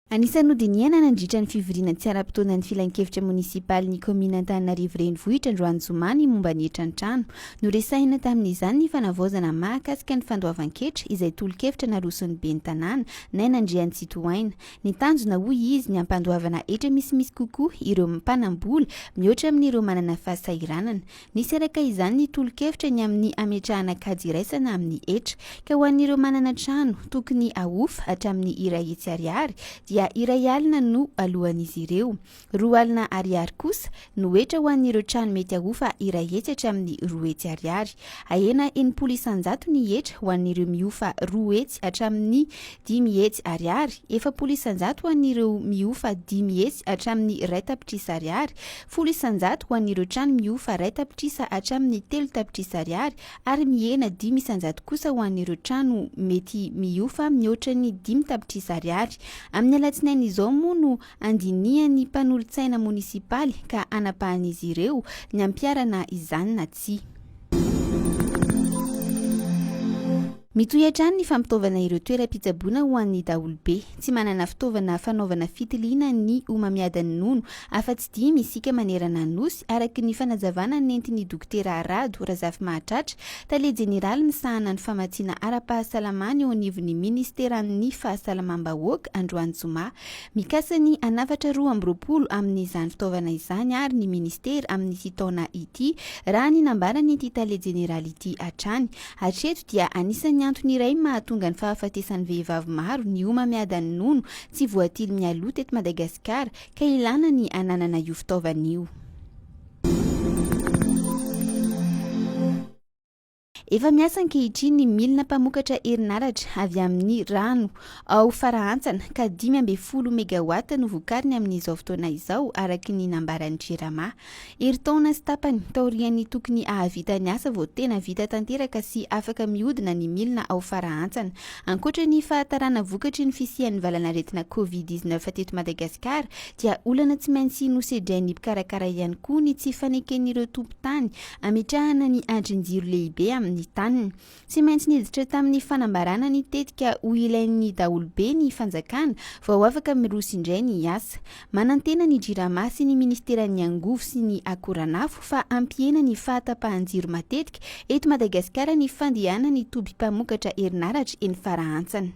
Anisan'ny nodinihana nandritra ny fivoriana tsy ara-potoanan'ny Filankevitra monisipalin'ny kaominina Antananarivo Renivohitra androany zoma ny momba ny hetran-trano. Noresahina tamin'izany ny fanavaozana mahakasika ny fandoavan-ketra izay tolo-kevitra naroson'ny ben'ny tanàna, Naina Andriantsitohaina. Ny tanjona hoy izy ny hampandoavana hetra misimisy kokoa ireo mpanam-bola mihoatra amin'ireo manana fahasahiranana. Nisy araka izany ny tolo-kevitra ny amin'ny hametrahana kajy iraisana amin'ny hetra, ka ho an'ireo manana trano tokony ahofa hatramin'ny iray hetsy ariary dia iray alina no aloan'izy ireo. Roa alina ariary kosa no hetra ho an'ireo trano mety ahofa iray hetsy hatramin'ny roa hetsy ariary. Ahena enimpolo isan-jato ny hetra ho an'ireo mihofa roa hetsy hatramin'ny Dimy hetsy Ariary, efapolo isan-jato ho an'ireo mihofa dimy hetsy hatramin'ny iray tapitrisa Ariary, folo isan-jato ho an'ireo trano mihofa iray tapitrisa hatramin'ny telo tapitrisa Ariary ary mihena dimy isan-jato kosa ho an'ireo trano mety mihofa mihoatra ny dimy tapitrisa Ariary. Amin'ny alatsinainy izao moa no andinihan'ny mpanolotsaina monisipaly ka anapahan'izy ireo ny hampiharana izany na tsia. Mitohy hatrany ny fampitaovana ireo toeram-pitsaboana ho an'ny daholobe. Tsy manana fitaovana fanaovana fitiliana ny homamiadan'ny nono afa-tsy dimy isika manerana ny Nosy, araka ny fanazavana nentin'ny Dokotera Rado Razafimahatratra, tale jeneraly misahana ny famatsiana ara-pahasalamana eo anivon'ny minisiteran'ny Fahasalamam-bahoaka, androany zoma. Mikasa ny hanafatra roa amby roapolo amin'izany fitaovana izany àry ny minisitera amin'ity taona ity, raha ny nambaran'ity tale jeneraly ity hatrany. Hatreto dia anisan'ny antony iray mahatonga ny fahafatesan'ny vehivavy maro ny homamiadan'ny nono tsy voatily mialoha teto Madagasikara ka ilàna ny hananana io fitaovana io. Efa miasa ankehitriny ny milina mpamokatra herinaratra avy amin'ny rano ao Farahantsana ka dimy ambin'ny folo megawatts no vokariny amin'izao fotoana izao, araka ny nambaran'ny Jirama. Herintaona sy tapany taorian'ny tokony hahavita ny asa vao tena vita tanteraka sy afaka mihodina ny milina ao Farahantsana. Ankoatra ny fahatarana vokatry ny fisian'ny valanaretina Covid dix neuf teto Madagasikara dia olana tsy maintsy nosedrain'ny mpikarakara ihany koa ny tsy faneken'ireo tompon-tany hametrahana ny andrin-jiro lehibe amin'ny taniny. Tsy maintsy niditra tamin'ny fanambarana ny tetika ho ilain'ny daholobe ny fanjakana vao afaka miroso indray ny asa. Manantena ny Jirama sy ny Ministeran'ny Angovo sy ny Akoranafo fa hampihena ny fahatapahan-jiro matetika eto Madagasikara ny fandehanan'ny toby mpamokatra herinaratra eny Farahantsana.